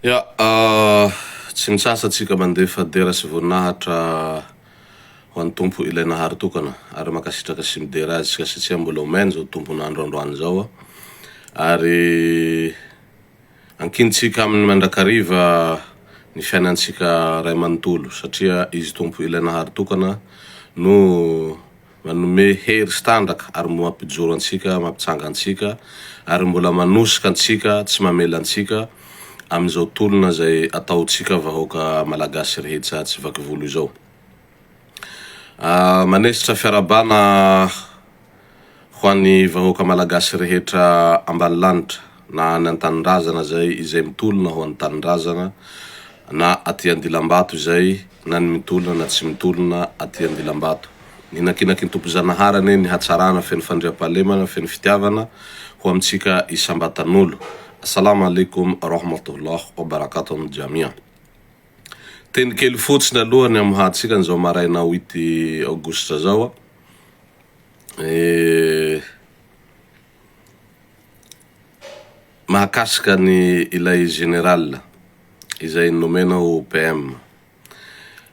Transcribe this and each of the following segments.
Ya, tsy nitsasa tsika mandefa dera sy voninahitra ho an'ny Tompo ilay Nahary tokana ary mankasitraka sy midera Azy tsika satsia mbola omen zao Tompon andro androany zao ary ankin tsika aminy mandrakariva ny fiainan tsika ray manontolo satria Izy Tompo ilay Nahary tokana no Manome hery sy tanjaka ary mampijoro antsika, mampitsanga antsika ary mbola manosika antsika tsy mamela antsika amin'izao tolona izay ataontsika vahoaka Malagasy rehetsa tsy vaky volo izao. Manesitra fiarabana ho an'ny vahoaka Malagasy rehetra ambany lanitra. na any an-tanindrazana izay izay mitolona ho any tanindrazana na aty Andilambato izay na ny mitolona na tsy mitolona aty Andilambato. Ninankinanky ny Tomponjanahary anie ny hatsarana feno fandriampahalemana feno fitiavana ho amintsika isam-batan'olo. Assalam alaikum rahmatoullah wa barakatohum jamia. Teny kely fotsiny aloha ny amoahantsika an'izao maraina huit aogositra zao. Mahakasika ny ilay général izay nomena ho PM,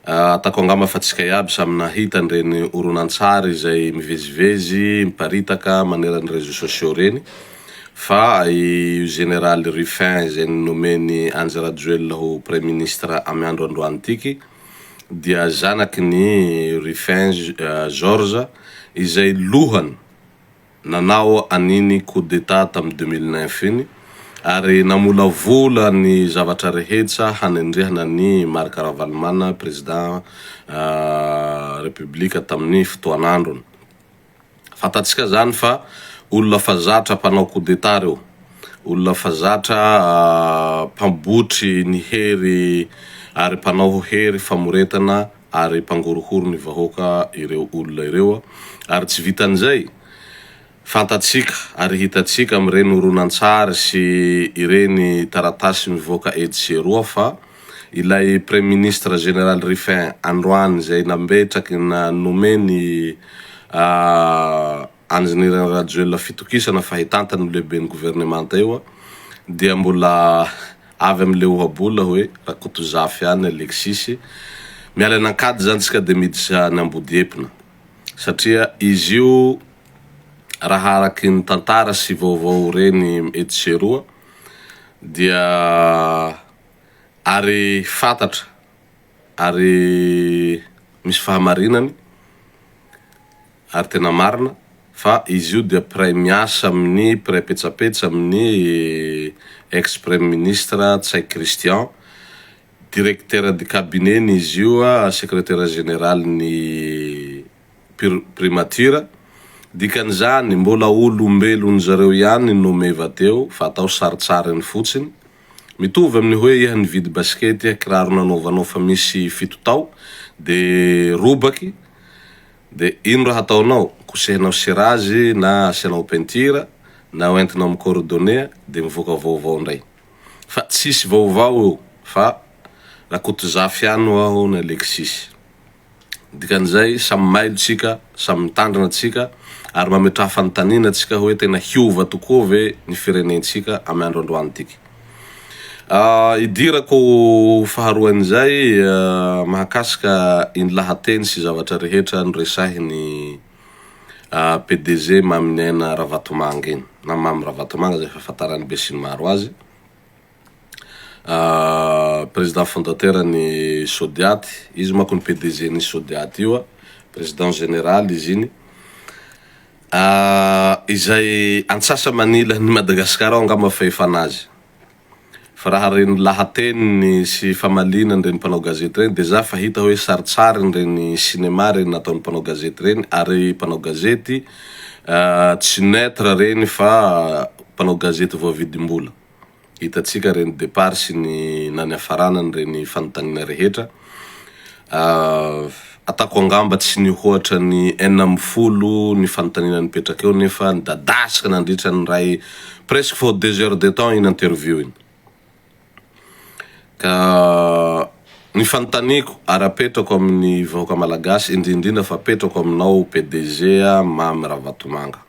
ataoko angamba fa tsy kay aby samy nahita an'ireny horonantsary izay mivezivezy miparitaka maneran'ny réseaux sociaux ireny fa io général Rufin izay nomen'i Andry Rajoelina ho praiministra amin'ny andro androan'ity dia zanaky ny Rufin Georges izay lohany nanao an'iny coup d'Etat tamin'ny deux mille neuf iny ary namolavola ny zavatra rehetsa hanendrehana an'i Marc Ravalomanana Président République tamin'ny fotoan'androny. Fantatsika izany fa olona fa zatra mpanao coup d'Etat reo, olona fa zatra mpambotry ny hery ary mpanao hery famoretana ary mpangorohoro ny vahoaka ireo olona ireo ary tsy vitan'izay, fantatsika ary hitantsika amin'ireny horonantsary sy ireny taratasy mivoaka etsy sy eroa fa ilay praiminisitra Général Ruffin androany izay nametraky na nomeny Engineer Rajoelina fitokisana fa hitantana io lehiben'ny governemanta io dia mbola avy am le ohabola hoe Rakotozafy any Alexis, miala any Ankady zany tsika de miditra any Ambodiepina satria izy io raha araky ny tantara sy vaovao reny etsy sy eroa dia ary fantatra ary misy fahamarinany, Ary tena marina fa izy io dia mpiray miasa amin'ny mpiray petsapetsa amin'ny ex premier ministre Ntsay Christian, directeur de cabinet ny izy io secretaire général ny primature, dikan'izany mbola olombelon zareo ihany no meva teo fa atao saritsariny fotsiny, mitovy amin'ny hoe iha nividy basikety iha kiraro nanaovanao fa misy fito tao dia robaky, Dia ino raha ataonao? Kosehinao sira azy na asianao peinture na hoentinao amin'ny corodonea dia mivoaka vaovao indray. Fa tsisy vaovao eo fa Rakotozafy ihany ho aho ny Alexis. Dikan'izay samy mailo tsika, samy mitandrina tsika ary mametraha fanontaniana tsika hoe tena hiova tokoa ve ny firenentsika amin'ny andro androany tika? Idirako ho faharoan'izay mahakasika iny lahateny sy zavatra rehetra noresahin'ny PDG Maminiaina Ravatomanga iny na Mamy Ravatomanga izay fahafantaran'ny besinimaro azy, président fondateur ny Sodiat, izy manko no PDG-n'ny Sodiat io, président général izy iny. Ah izay antsasa manila ny Madagascar ao angamba fa efa nazy. Fa raha reny lahateniny sy famaliana an'ireny mpanao gazety reny de za fa hita hoe saritsariny reny cinéma reny nataon'ny mpanao gazety reny ary mpanao gazety ah tsy neutre reny fa mpanao gazety voavidim-bola. Hitantsika ireny départ sy ny na ny hafarana an'ireny fanontaniana rehetra. Ataoko angamba tsy nihoatra ny enina ambin'ny folo ny fanontaniana nipetraka eo nefa nidadasika nandritra ny iray presque vao deux heures de temps iny interview iny. Ka ny fanontaniako ary apetrako amin'ny vahoaka malagasy indrindra indrindra fa apetrako aminao PDG Mamy Ravatomanga.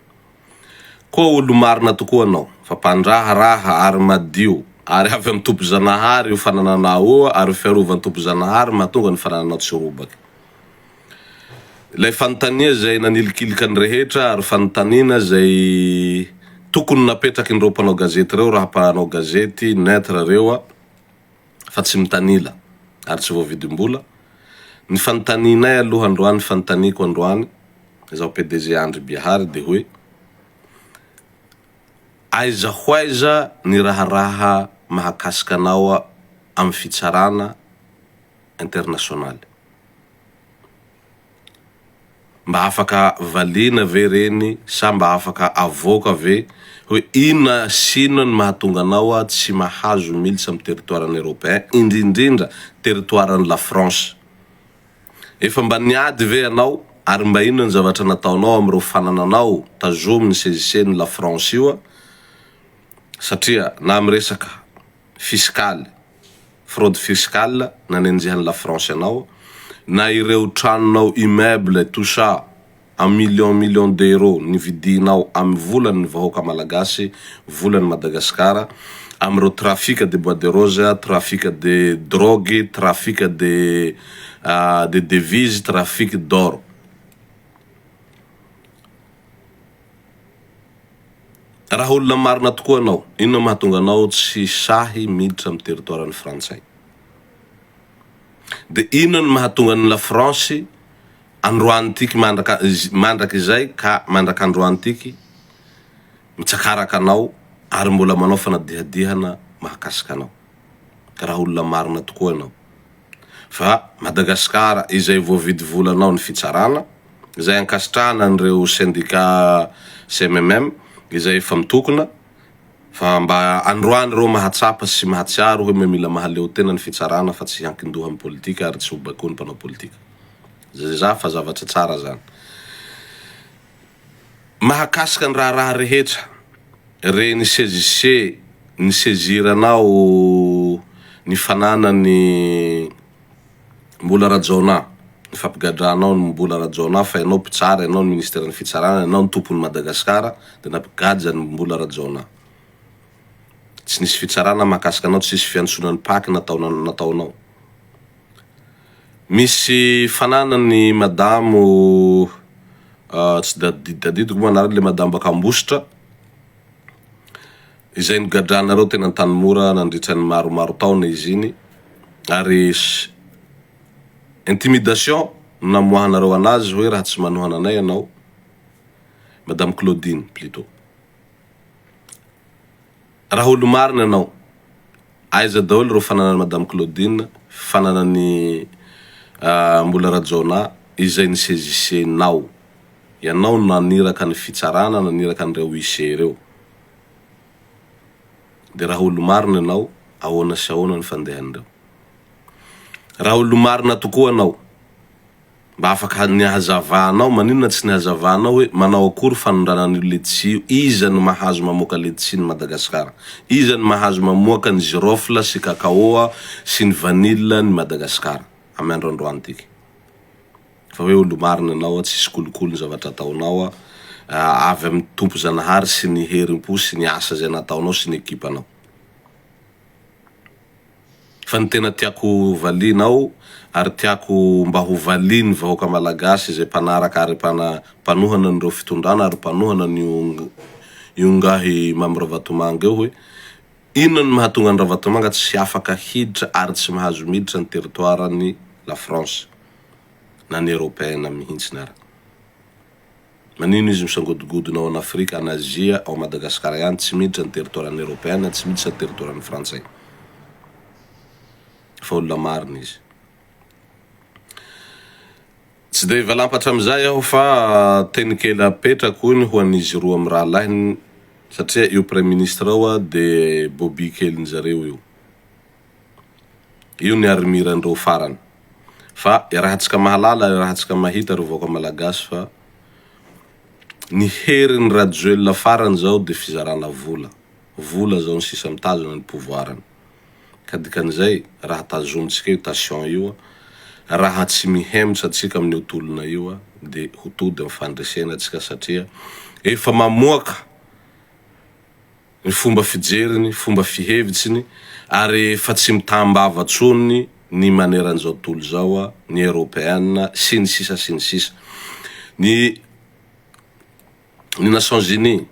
Koa olo-marina tokoa anao, fa mpandraharaha ary madio, ary avy amin'ny Tompo Zanahary io fanananao io, ary ny fiarovan'ny Tompo Zanahary no mahatonga ny fanananao tsy robaka. Ilay fanontania izay nanilikilika ny rehetra, ary fanontaniana izay tokony napetrakin'ireo mpanao gazety ireo, raha mpanao gazety neutre ireo, fa tsy mitanila ary tsy voavidim-bola, ny fanontanianay aloha androany fanontaniako androany izaho PDG Andry Bihary dia hoe aiza ho aiza ny raharaha mahakasika anao amin'ny fitsarana internasionaly? Mba afaka valiana ve ireny sa mba afaka avoaka ve hoe inona sy inona ny mahatonga anao tsy mahazo militsa amin'ny territoiran'ny européen indrindrindra territoiran'i la France? Efa mba niady ve ianao ary mba inona ny zavatra nataonao amin'ireo fanananao tazomy ny sezisenin'i la France io satria na amin'ny resaka fisikaly fraude fiscale nanenjehan'i la France anao, na ireo tranonao immeuble tout ça en millions millions d'euros nividianao amin'ny volan'ny vahoaka malagasy, volan'i Madagasikara, amin'ireo trafic de bois de rose, trafic de drogue, trafic de de devise, trafic d'or. Raha olona marina tokoa anao, inona mahatonga anao tsy sahy miditra amin'ny territoire-n'ny frantsay? Dia inona no mahatonga an'i Lafransy androany tiky mandraka mandraka izay ka mandraka androany tiky mitsakaraka anao ary mbola manao fanadihadihana mahakasika anao? Raha olona marina tokoa ianao. fa Madagascar izay voavidy volanao ny fitsarana izay ankasitrahana an'ireo sendika CMMM izay efa mitokona fa mba androany ireo mahatsapa sy mahatsiaro hoe mila mahaleo tena ny fitsarana fa tsy hiankindoha amin'ny politika ary tsy ho baikoin'ny mpanao politika. Zay za fa zavatra tsara zany. Mahakasika ny raharaha rehetra re ny CJC ny sezira anao ny fananany Mbola Rajaonah ny fampigadranao ny Mbola Rajaonah fa ianao mpitsara ianao ny ministera ny fitsarana ianao ny tompony Madagascar de nampigadra ny Mbola Rajaonah tsy nisy fitsarana mahakasika anao tsisy fiantsoana ny pac nataonao Misy fananany i madamo tsy tadidiko moa anarany ilay madamo baka ambositra izay nogadranareo teny antanimora nandritra ny maromaro taona izy iny ary intimidation no namoahanareo anazy hoe raha tsy manohana anay ianao madamo claudine plutot Raha olo marina ianao, aiza daholo ireo fananan'i Madame Claudine, fananan'i Mbola Rajaonah izay ny saisissenao? Ianao no naniraka ny fitsarana, naniraka an'ireo huissiers ireo. Dia raha olo marina ianao, ahoana sy ahoana ny fandehan'ireo? Raha olo marina tokoa ianao, Mba afaka ny hazavanao, maninona tsy ny hazavanao hoe manao akory fanondrana an'io letisia io, iza no mahazo mamoaka letisia ny Madagascar, iza no mahazo mamoaka ny girofle sy cacao sy ny vanille ny Madagascar amy andro androantika fa hoe olomarina ianao tsisy kolikoly ny zavatra ataonao avy amy Tompo Zanahary sy ny herimpo sy ny asa zay nataonao sy ny ekipanao. Fa ny tena tiako valianao ary tiako mba ho valian'ny vahoaka Malagasy izay mpanaraka ary mpanohana an'ireo fitondrana ary mpanohana an'io ingahy Mamy Ravatomanga io hoe, inona no mahatonga an'i Ravatomanga tsy afaka hiditra ary tsy mahazo miditra ny territoire-n'i La France na ny Europeen mihintsiny ary. Manino izy misangodogodona ao an'Afrika, any Azia, ao Madagasikara ihany, tsy miditra ny territoiran'ny Eropeana, tsy miditra ny territoiran'ny Frantsay. Fa olona marina izy. Tsy dia hivalampatra amin'izay aho fa teny kely apetrako hoy ny ho an'izy roa mirahalahy satria io Praiminisitra io dia bobby kelin'izareo io. Io ny armir ndreo farany. Fa iarahantsika mahalala, iarahantsika mahita ry vahoaka malagasy fa ny herin'i Rajoelina farany zao dia fizarana vola. Vola zao ny sisa mitazona ny pouvoir-ny. Ka dikan'izay raha tazomintsika io tation io, raha tsy mihemotra tsika amin'io tolona io dia ho tody amin'ny fandresena tsika satria efa mamoaka ny fomba fijeriny, fomba fihevitsiny ary efa tsy mitam-bava tsony ny maneran'izao tontolo izao, ny Eropeana sy ny sisa sy ny sisa. Ny ny Nations Unies,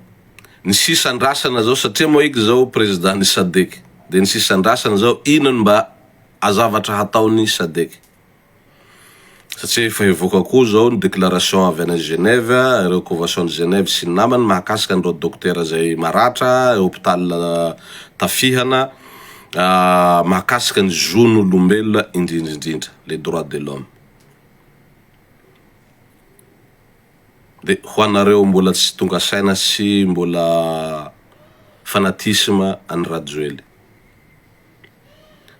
ny sisa andrasana izao satria moa ika izao Président ny Sadec dia ny sisa andrasana izao inona no mba azavatra hataon'ny Sadec. satria efa hivoaka koa izao ny déclaration avy any Genève, ireo convention de Genève sy ny namany mahakasika an'ireo dokotera izay maratra eo hôpital tafihana mahakasika ny zon'olombelona indrindra indrindra, les droits de l'homme. Dia ho anareo mbola tsy tonga saina sy mbola fanatisme an'i Rajoely.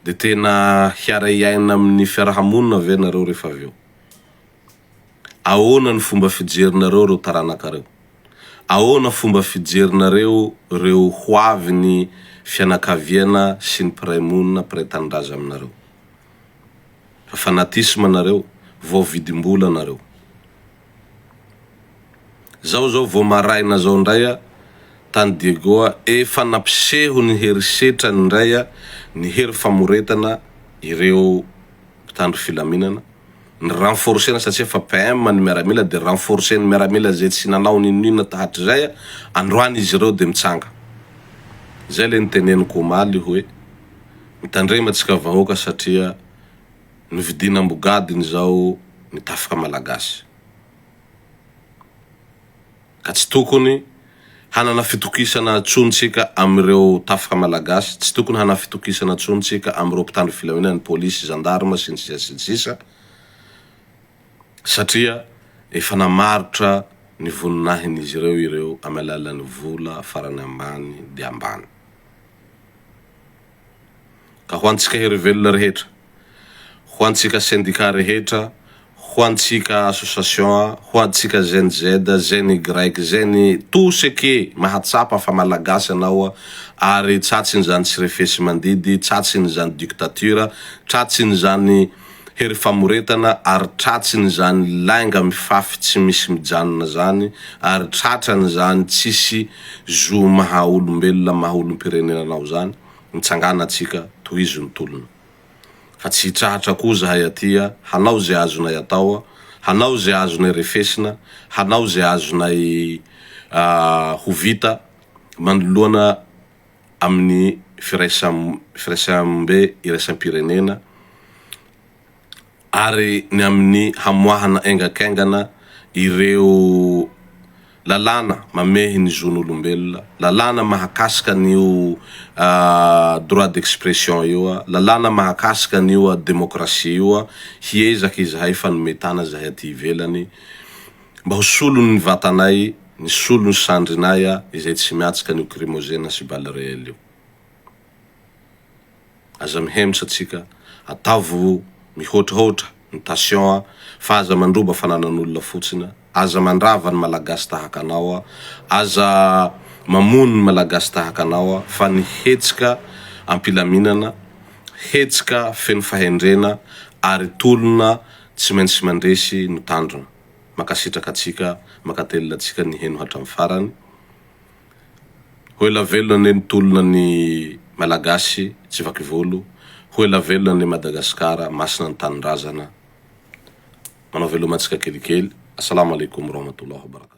Dia tena hiaray aina amin'ny fiaraha-monina ve nareo rehefa avy eo? Ahoana ny fomba fijerinareo ireo taranakareo? Ahoana fomba fijerinareo ireo hoavin'ny fianakaviana sy ny mpiray monina, mpiray tanindrazana aminareo? Fa fanatisme nareo, vao vidim-bola nareo. Zao zao vo maraina zao ndray a tany Diego a efa nampiseho ny herisetrany ndray a ny hery famoretana ireo mpitandro filaminana ny renforcena satsia efa PM ny miaramila de renforceny miaramila ze tsy nanao ninoninona tahatrizay a androany izy ireo de mitsanga zay le niteneniko omaly hoe mitandrema tsika vahoaka satria Novidiana ambogadiny izao ny tafika malagasy, ka tsy tokony hanana fitokisana tsony tsika amin'ireo tafika malagasy, tsy tokony hanana fitokisana tsony tsika amin'ireo mpitandro filaminana, ny polisy, zandarma, sy ny sisa sy ny sisa, satria efa namarotra ny voninahin'izy ireo ireo amin'ny alalan'ny vola farany ambany dia ambany. ka ho antsika hery velona rehetra, ho antsika sendika rehetra, ho antsika association, ho antsika Gen Z, Gen Y, Gen tout ce que mahatsapa fa Malagasy anao ary tratsin'izany tsy refesi-mandidy, tratsin'izany dictature, tratsin'izany. Hery famoretana ary tratsin izany lainga mifafy tsy misy mijanona zany ary tratran zany tsisy zo maha olombelona maha olompirenena anao zany mitsangana atsika tohizo ny tolona fa tsy hitrahatra koa zahay atia hanao ze azonay atao hanao ze azonay refesina hanao ze azonay ho vita manoloana amin'ny firaisambe iraisam-pirenena ary ny amin'ny hamoahana engan-kaingana ireo lalàna mamehy ny zon'olombelona, lalàna mahakasika an'io droit d'expression io, lalàna mahakasika an'io demokrasia io, hiezaka izahay fanome tana izahay aty ivelany. Mba ho solon' ny vatanay ny solon' ny sandrinay a izay tsy miatsika an' io krimozena sy bal reel io. Aza mihemotra tsika, ataovy mihoatrahoatra ny tasion a fa aza mandroba fananan' olona fotsiny a, aza mandrava ny malagasy tahaka anao a, aza mamono ny malagasy tahaka anao a fa ny hetsika am-pilaminana, hetsika feno fahendrena ary tolona Tsy maintsy mandresy ny tanjona. Mankasitraka antsika mankatelina antsika niheno hatramin'ny farany. Ho ela velona anie ny tolona ny Malagasy tsy vaky volo, ho ela velona anie Madagasikara, masina ny tanindrazana. Manao veloma antsika kelikely. Assalama alaikum warahmatullahi wabarakatuh.